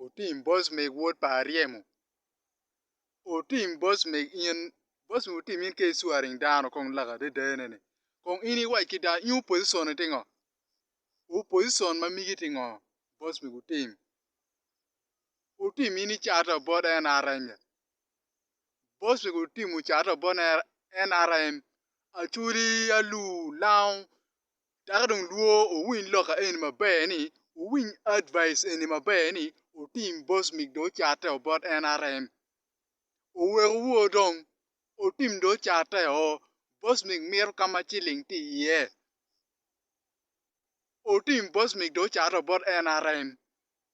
Otim boss meg wod pa aryemo otim boss meg in boss meg otim in ka i swearing dano kong lak adada ene ni kong in i wac ki dano in opposition ni tye ngo opposition ma migi tye ngo boss meg otim otim in i cato bot nrm ya boss meg otim ocato bot nrm acholi, alur, lango dako dong lwor owiny lok eni maber ni owiny advise eni maber ni otim boss mig do cate o bot nrm owek owor dong otim do cate o boss mig mito kama ciling tye iye otim boss mig do cate o bot nrm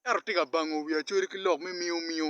ento tye ka bango wi acholi ki lok me miyo miyo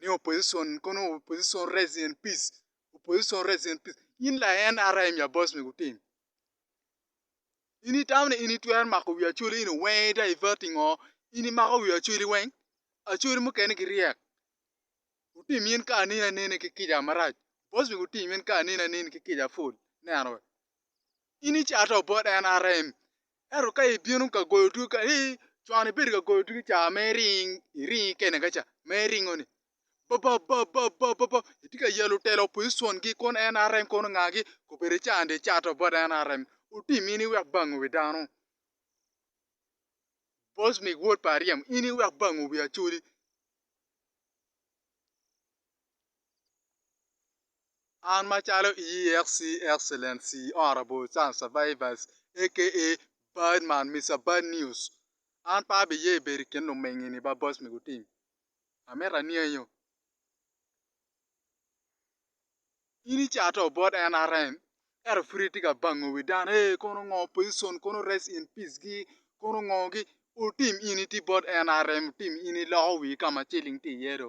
ni opposition kono opposition rest in peace opposition rest in peace in la NRM ya boss me gutim in itamo ni in itwero mako wi Acholi in owenge divert i ngo in imako wi Acholi weng Acholi mukene giryek gutim in kara anene anene ki kica marac boss me gutim in kara anene anene ki kica pol neno in icato bot NRM Ento ka ibino ka goyo odwigi kany, ii, con ibedo ka goyo odwigi ca ma iring, iringi kene ka ca, ma iringo-ni. Bababababababa, itye ka yalo telo opozicon-gi kun NRM kono ngagi, kobedi icanno dong icato bot NRM. Wutim in iwek bang owi dano. Bosmic wod pa Aryem, in iwek bang owi Acholi. An macalo EEXC Excellent Sea Honourable Child Survivors aka Bad Man Mister Bad News an pe abiye bedo i kin lumengini ba boss me gutim amito anyenyo in icato bot NRM ento pud itye ka bango wi dano ee kono ngo opposition kono rest in peace gi kono ngo gi otim in itye bot NRM otim in iloko wii ka ma ciling tye iye do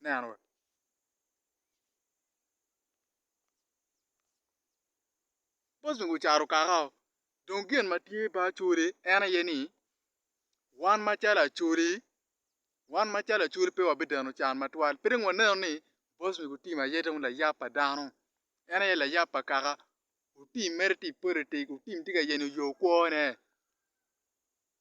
Aneno wa. Bos ni gucaro kaka o. Dong gin ma tye ba acoli en aye ni wan macalo acoli wan macalo acoli pe wa bideno can matwal. Pe dong waneno ni bos ni gutimo aye dong layab pa dano. En aye layab pa kaka. Otim mere ti politics otim ti ka yenyo yo kwo ne.